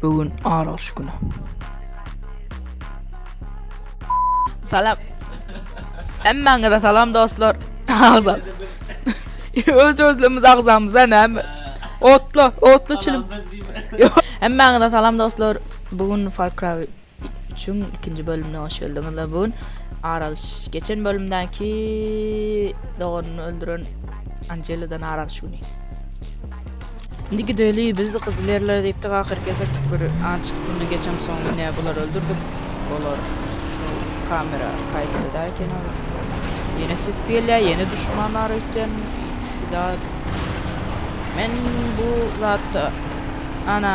Bu gün aralyş güni. Salam. Hemmäňize salam dostlar. Agzam. Öz özlümiz agzamyza näme? Otla, otla çilim. Hemmäňize salam dostlar. Bu gün Far Cry Üçüň ikinji bölümine hoş geldiňizler. Bu gün Aralyş geçen bölümdäki doganyny öldüren Anjelidan Aralyş güni. Indi gideli biz gyzyl ýerlere diýipdik ahyr kesek bir aç güni geçen soň ine bular öldürdik. Bular şu kamera kaýtda da eken ol. Ýene ses gelýär, ýene düşmanlar öýtýän. Sida men bu zatda ana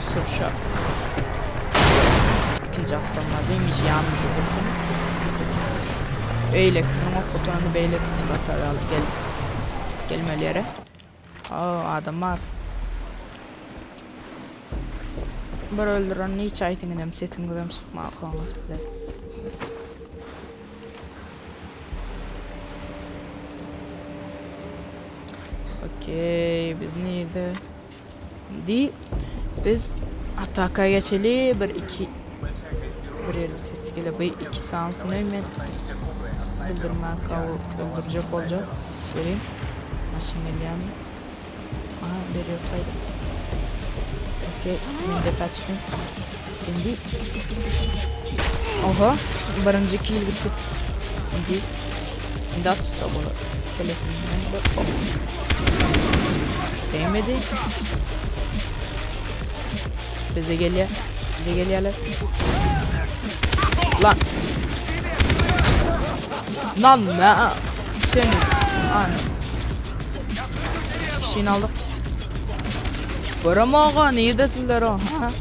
Sürşä. Ikinji awtomaty imiş ýanymyzda dursun. Beýlekisini ok gutaranda beýlekisini gatar alyp geldik. Gelmeli ýere. Ha, adam bar. Bir öldüren niçe aýtyň inem sesiňizem çykman kaňyz bilen. Okey, biz nirde? Indi biz ataka geçeli bir iki bir ýerde ses gele bu iki sansyny men öldürmän kowup öldürjek boljak göreyim maşyn gelýärmi aha beri ýok aýdym okey men depä çykyň Indi Oho, birinji kill gitdi. Indi indi atsa bolar. Telefoninden bir oh. Değmedi. Bize geliyor. Bize geliyorlar. Lan. Lan ne? Senin. Anam. Kişini aldık. Görem ağa neydedirler o?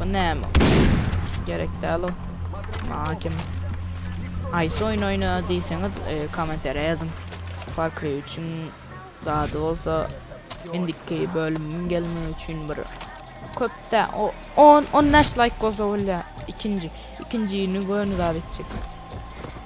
Bu näme? Gerek däl o. Maňa kim? Aýsy oýun oýna diýseňiz, e, kommentariýa ýazyň. Far Cry 3-iň zady bolsa indiki bölümiň gelmegi üçin bir köpde o 10 15 laýk bolsa bolýar. Ikinji, ikinjini göni zat etjek.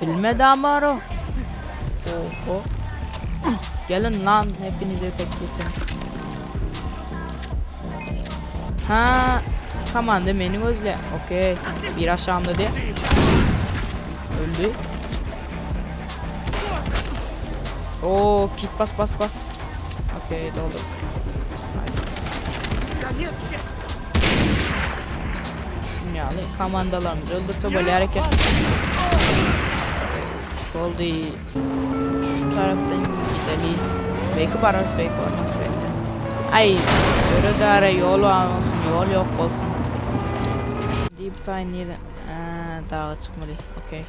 Bilme damaro. Oho. Gelin lan hepinize pek geçen. Ha, komanda meni gözle. Okey. Bir aşağımda diye. Öldü. Oo, kit bas bas bas. Okey, doldu. Sniper. Şun ýaly komandalarymyzy öldürse bolýar eken. Boldy. Şu tarapdan gideli. Belki bararys, belki barmarys, belki. Ay, öre dara yol almasın, yol yok olsun. Deep Thai neden? Ee, dağa çıkmadı. Okey.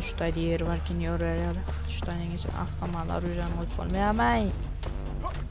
Şu tayda yer varken yer ya da şu tayda geçip aslamalar ucağını koyup olmayamay.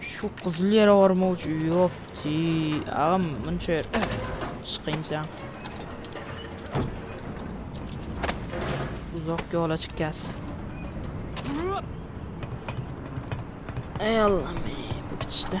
Şu gyzyl ýere barmak üçin ýopti. Agam munça çykynça. Uzak ýola çykýas. Ey Allah'ım, bu gitişde.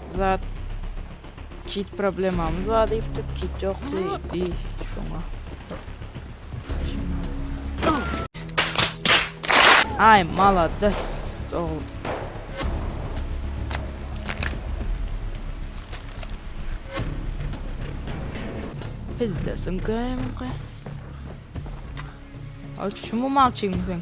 Zat kit problemamyz bar diýipdik, kit ýokdy, di şoňa. Ay malades oğlum. Pizdesin köymge. Ay şu mu malçygyň sen?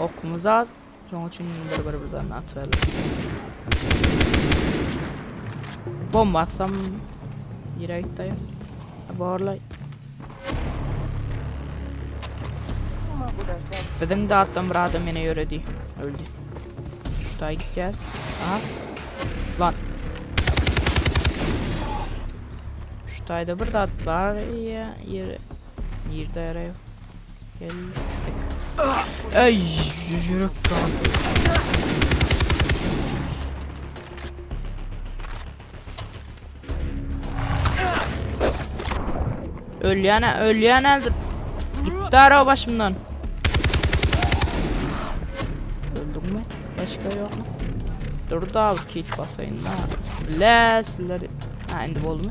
Okumuz az. Şoň üçin bir bir birden atyberler. Bomba atsam nirä gitdi aýa? Borlay. Biziň datdan bir adam meni ýöredi. Öldü. Şuta gidýäs. Aha. Lan. Şutayda bir dat bar ýere. Nirde ere? Geldik. Ay yürek kan. Ölýän, ölýän aldı. Gitti araba başımdan. Öldüm mü? Başka yok mu? Dur da abi kit basayın da. Bilesizler. Ha indi oldu mu?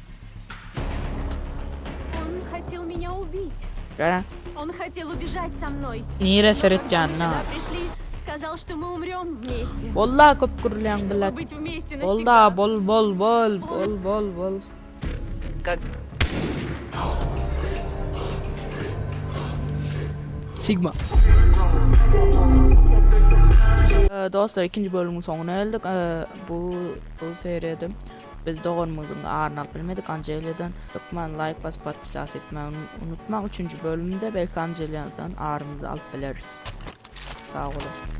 Nirä seretýäniň-a? Bol-la köp gürlän blat. Bol-la, bol, bol, bol, bol, bol, bol. Sigma. Dostlar ikinji bölümiň soňuna geldik. Bu bu seriýada Biz doganymyzyň aryny alyp bilmedik Anjeliýadan hökman laýk basyp podpisas etmäni unutmaň üçünji bölümde belki Anjeliýadan arymyzy alyp bileris. Sag boluň.